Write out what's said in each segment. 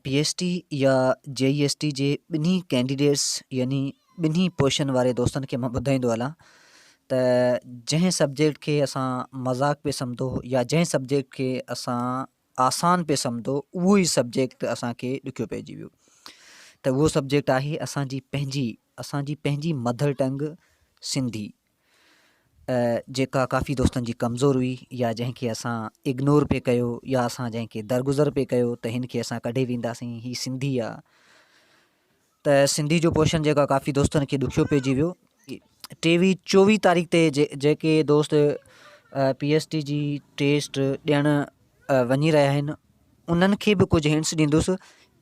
P S T يا J E S T جي ٻنهي ڪينڊيڊيٽس يعني ٻنهي پوزيشن واري دوستن کي مان ٻڌائيندو هلان ته جنهن سبجيڪٽ کي اسان مذاق پئي سمجهو يا جنهن سبجيڪٽ کي اسان آسان پئي سمجهو اهو ئي سبجيڪٽ اسانکي ڏکيو پئجي ويو ته اهو سبجيڪٽ آهي اسانجي پنهنجي اسانجي پنهنجي مڌر ٽنگ سنڌي جيڪا ڪافي دوستن جي ڪمزور هئي يا جنهن کي اسان اگنور پئي ڪيو يا اسان جنهن کي درگذر پئي ڪيو ته هن کي اسان ڪڍي وينداسين هي سنڌي آ ته سنڌي جو پوشن جيڪا ڪافي دوستن کي ڏکيو پئجي ويو ٽيوي چوويهه تاريخ تي جيڪي دوست پي ايس ٽي جي ٽيسٽ ڏيڻ وڃي رهيا آهن انهن کي به ڪجهه هنس ڏيندس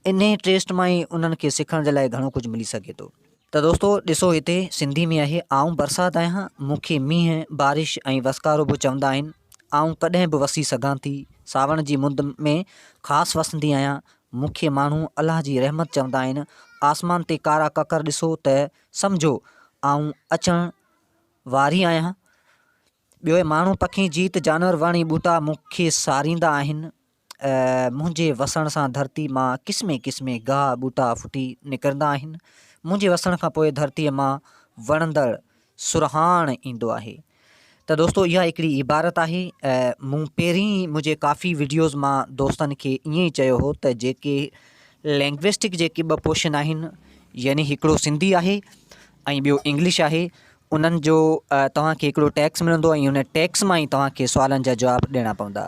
انهي ٽيسٽ مان ئي انهن کي سکڻ جي لاء گهڻو ڪجهه ملي سگهي ٿو. ته دوستو ڏسو هتي سنڌي ۾ آهي آئون برسات آهيان مون کي مينهن، بارش ۽ وسڪارو به چوندا آهن. آئون ڪڏهن به وسي سگهان ٿي. ساوڻ جي مند ۾ خاص وسندي آهيان. مون کي ماڻهو الله جي رحمت چوندا آهن. آسمان تي ڪارا ڪڪر ڏسو ته سمجهو آئون اچڻ واري آهيان. ٻيو ماڻهو پکي جيت جانور وڻ ۽ ٻوٽا مون کي ساريندا آهن. منهنجي وسڻ سان ڌرتي مان قسمي قسمي گاهه ٻوٽا ڦٽي نڪرندا آهن. منهنجي وسڻ کان پوء ڌرتيء مان وڻندڙ سرهاڻ ايندو آهي. ته دوستو اها هڪڙي عبارت آهي. مون پهرين منهنجي ڪافي وڊيوز مان دوستن کي ائين ئي چيو هو ته جيڪي لينگويسٽڪ جيڪي ٻه پورشن آهن يعني هڪڙو سنڌي آهي ۽ ٻيو انگلش آهي انهن جو توهان کي هڪڙو ٽيڪس ملندو ۽ ان ٽيڪس مان ئي توهان کي سوالن جا جواب ڏيڻا پوندا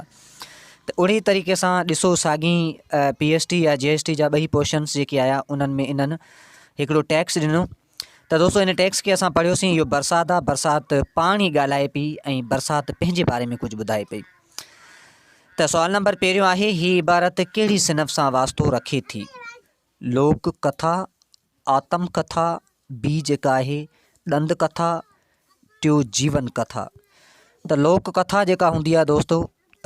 ته اهڙي طريقي سان ڏسو ساڳي پي ايس ٽي يا جي ايس ٽي جا ٻئي پورشنس جيڪي آيا انهن ۾ انهن هڪڙو ٽيڪس ڏنو ته دوستو ان ٽيڪس کي اسان پڙهيوسين اهو برسات آ برسات پاڻ ئي ڳالهائي پي ۽ برسات پنهنجي باري ۾ ڪجهه ٻڌائي پئي ته سوال نمبر پهريون آهي هي عبارت ڪهڙي صنف سان واسطو رکي ٿي لوڪ ڪٿا آتم ڪٿا، ٻي جيڪا آهي ڏند ڪٿا، ٽيو جيون ڪٿا. ته لوڪ ڪٿا جيڪا هوندي آهي دوستو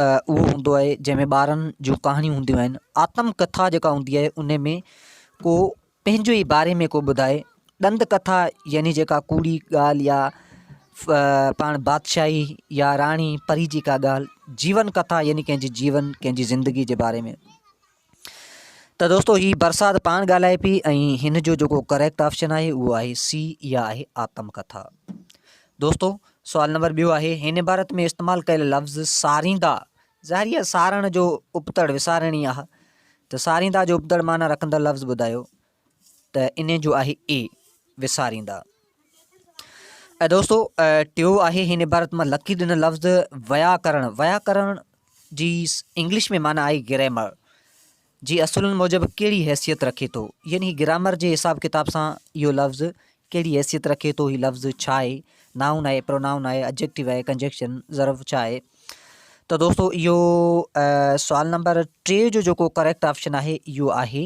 اهو هوندو آهي جنهن ۾ ٻارن جون ڪهاڻيون هونديون آهن. آتم ڪٿا جيڪا هوندي آهي ان ۾ ڪو پنهنجو ئي باري ۾ ڪو ٻڌائي. ڏند ڪٿا يعني جيڪا ڪوڙي ڳالهه يا پاڻ بادشاهي يا راڻي پري جي ڪا ڳالهه. جيون ڪٿا يعني ڪنهن جي جيون ڪنهن جي زندگي جي باري ۾. ته دوستو هي برسات پاڻ ڳالهائي پي ۽ هن جو جيڪو ڪريڪٽ آپشن آهي اهو آهي سي اها آهي آتم ڪٿا دوستو سوال نمبر ٻيو آهي هن عبارت ۾ استعمال ڪيل لفظ ساريندا ظاهري سارڻ جو ابتڙ وسارڻي آهي ته ساريندا جو ابتڙ معنيٰ رکندڙ لفظ ٻڌايو ته انهي جو آهي اي وساريندا. اي دوستو ٽيو آهي هن عبارت مان لکي ڏنل لفظ ويا ڪرڻ ويا ڪرڻ جي انگلش ۾ معنيٰ آهي گريمر جي اصولن موجب ڪهڙي حيثيت رکي ٿو يعني هي گرامر جي حساب ڪتاب سان اهو لفظ ڪهڙي حيثيت رکي ٿو هي لفظ ڇا آهي نائون آهي پرونائون آهي اجيڪٽو آهي ڪنجيڪشن ضرب ڇا آهي ته دوستو اهو سوال نمبر ٽي جو جيڪو ڪريڪٽ آپشن آهي اهو آهي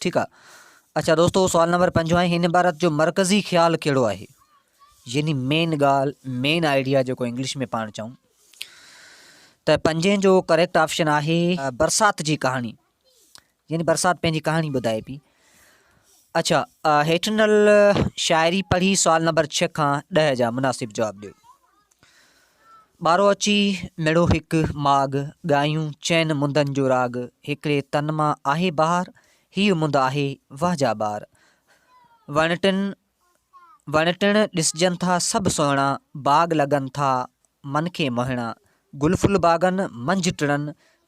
ٺيڪ آ اچا دوستو سوال نمبر پنجو آهي هن عبارت جو مرڪزي خيال کيڙو آهي يعني مين گال مين آئيڊيا جو کو انگلش ۾ پاڻ چاهون ته پنجين جو ڪريڪٽ آپشن آهي برسات جي ڪهاڻي يعني برسات پنهنجي ڪهاڻي ٻڌائي پي اچھا هيٺنل شاعري پڙهي سوال نمبر 6 کان 10 جا مناسب جواب ڏيو ٻارو اچي مڙو هڪ ماڳ، ڳايون چئن مندن جو راڳ، هڪڙي تن مان آهي بهار، هيء مند آهي وه جا ٻار. وڻ ٽڻ وڻ ٽڻ ڏسجن ٿا سڀ سهڻا، باغ لڳن ٿا من کي موهڻا، گل ڦل باغن منجهه ٽڙن،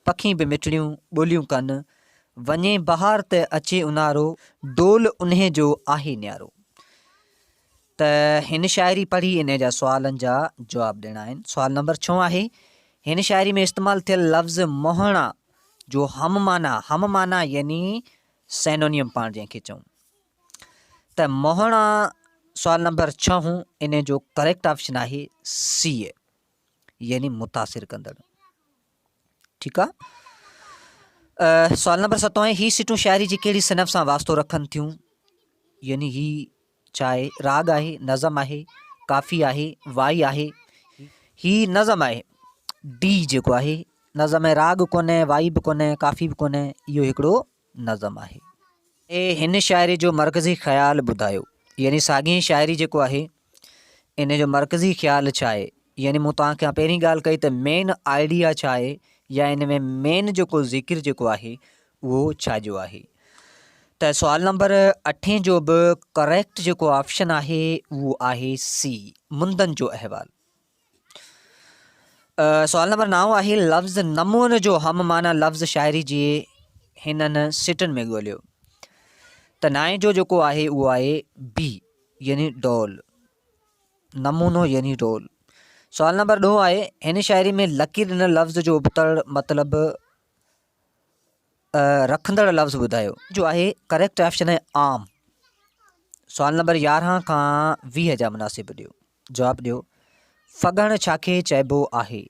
پکي به مٺڙيون ٻوليون ڪن، وڃي بهار ته اچي اونهارو، ڊول انهي جو آهي نيارو. ته هن شاعري پڙهي انهيء جا سوالن جا جواب ڏيڻا آهن. سوال نمبر ڇهون آهي، هن شاعري ۾ استعمال ٿيل لفظ مهڻا جو هم معنيٰ، هم معنيٰ يعني Synonym پاڻ جنهن کي چئون ته مهڻا سوال نمبر ڇهون انهيء جو ڪريڪٽ آپشن آهي سي يعني متاثر ڪندڙ. ٺيڪ آ سوال نمبر ستوائن هي سٽون شاعري جي کيڙي صنف سان واسطو رکن ٿيون يعني هي چاهي راڳ آهي نظم آهي ڪافي آهي وائي آهي هي نظم آهي ڊي جيڪو آهي نظم ۾ راڳ ڪونهي وائي به ڪونهي ڪافي به ڪونهي اهو هڪڙو نظم آهي اي هن شاعري جو مرڪزي خيال ٻڌايو يعني ساڳي شاعري جيڪو آهي ان جو مرڪزي خيال ڇا آهي يعني مون توهان کي پهرين ڳالهه ڪئي ته مين آئيڊيا ڇا آهي يا ان ۾ مين جيڪو ذڪر جيڪو آهي اهو ڇا جو آهي ته سوال نمبر اٺين جو به ڪريڪٽ جيڪو آپشن آهي اهو آهي سي مندن جو احوال سوال نمبر نو آهي لفظ نمون جو هم معنی لفظ شاعري جي هنن سٽن ۾ ڳوليو ته نائين جو جيڪو آهي اهو آهي بي يعني ڊول نمونو يعني ڊول سوال نمبر ڏهو آهي هن شاعري ۾ لڪير ڏنل لفظ جو ابتڙ مطلب رکندڙ لفظ ٻڌايو جو آهي ڪريڪٽ آپشن آهي عام سوال نمبر يارهن کان ويهه جا مناسب ڏيو جواب ڏيو، ڦڳڻ ڇا کي چئبو آهي؟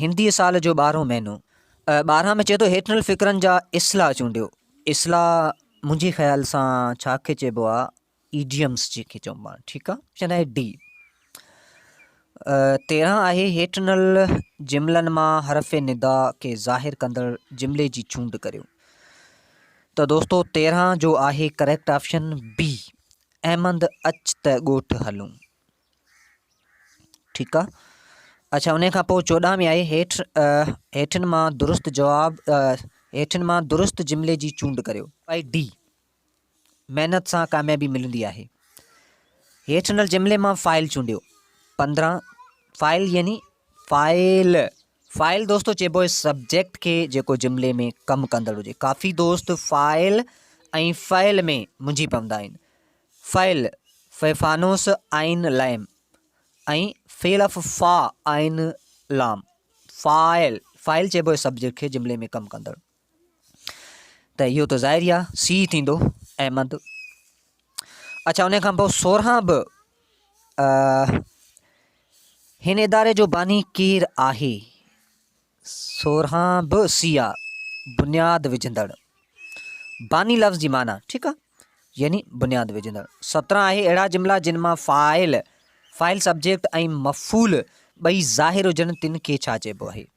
هندي سال جو ٻارهون مهينو. ٻارهن ۾ چئي ٿو هيٺ ڏنل فقرن جا اصلاح چونڊيو. اصلاح منهنجي خيال سان ڇا کي چئبو آهي؟ ايڊيمس جي کي چئبو آهي. ٺيڪ آهي. آپشن آهي ڊي. تيرهن آهي هيٺ ڏنل جملن مان حرف ندا کي ظاهر ڪندڙ جملي جي چونڊ ڪريو. ته دوستو تيرهن جو آهي ڪريڪٽ آپشن بي. احمد اچ ته ڳوٺ هلون. ٺيڪ آ اڇا انهي کان پوء چوڏهن ۾ آهي هيٺ هيٺين مان درست جواب هيٺين مان درست جملي جي چونڊ ڪريو. آئي ڊي محنت سان ڪاميابي ملندي آهي هيٺ ڏنل جملي مان فاعل چونڊيو پندرهن فاعل يعني فاعل فاعل دوستو چئبو آهي سبجيڪٽ کي جيڪو جملي ۾ ڪم ڪندڙ هجي. ڪافي دوست فاعل ۽ فعل ۾ منجهي پوندا آهن. فعل، فيفانوس عين لئم ۽ فعل اف فا عين لام. فاعل، فاعل چئبو آهي سبجيڪٽ کي جملي ۾ ڪم ڪندڙ. ته اهو ته ظاهر ئي آ سي ٿيندو احمد اچھا ان کان پوء سورهان به هن اداري جو باني ڪير آهي سورهان به سي آ بنياد وجھندڙ باني لفظ جي معنی ٺيڪ آ يعني بنياد وجھندڙ سترهن آهي اهڙا جملا جن مان فاعل فاعل سبجيڪٽ ۽ مفعول ٻئي ظاهر هجن تن کي ڇا چئبو آهي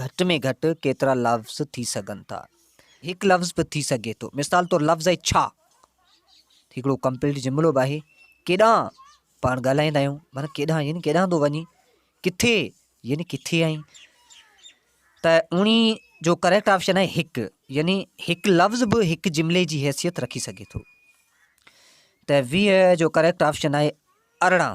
گهٽ ۾ گهٽ ڪيترا لفظ ٿي سگهن ٿا؟ هڪ لفظ به ٿي سگهي ٿو. مثال طور لفظ آهي ڇا؟ هڪڙو ڪمپليٽ جملو به آهي. ڪيڏانهن؟ پاڻ ڳالهائيندا آهيون معنيٰ ڪيڏانهن يعني ڪيڏانهن ٿو وڃين؟ ڪٿي؟ يعني ڪٿي آهين؟ ته اڻي جو ڪريڪٽ آپشن آهي هڪ يعني هڪ لفظ به هڪ جملي جي حيثيت رکي سگهي ٿو. ته ويهه جو ڪريڪٽ آپشن آهي ارڙهن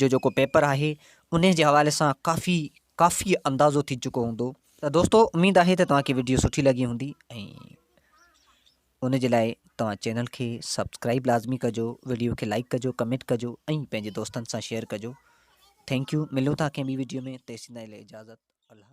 جو جيڪو پيپر آهي انهي جي حوالي سان ڪافي ڪافي اندازو ٿي چڪو هوندو ته دوستو اميد آهي ته توهان کي ويڊيو سٺي لڳي هوندي ۽ ان جي لاء توهان چينل کي سبسڪرائب لازمي ڪجو ويڊيو کي لائڪ ڪجو ڪمينٽ ڪجو ۽ پنهنجي دوستن سان شيئر ڪجو ٿينڪ يو ملون ٿا ڪنهن ٻي ويڊيو ۾ تيسين تائين اجازت الله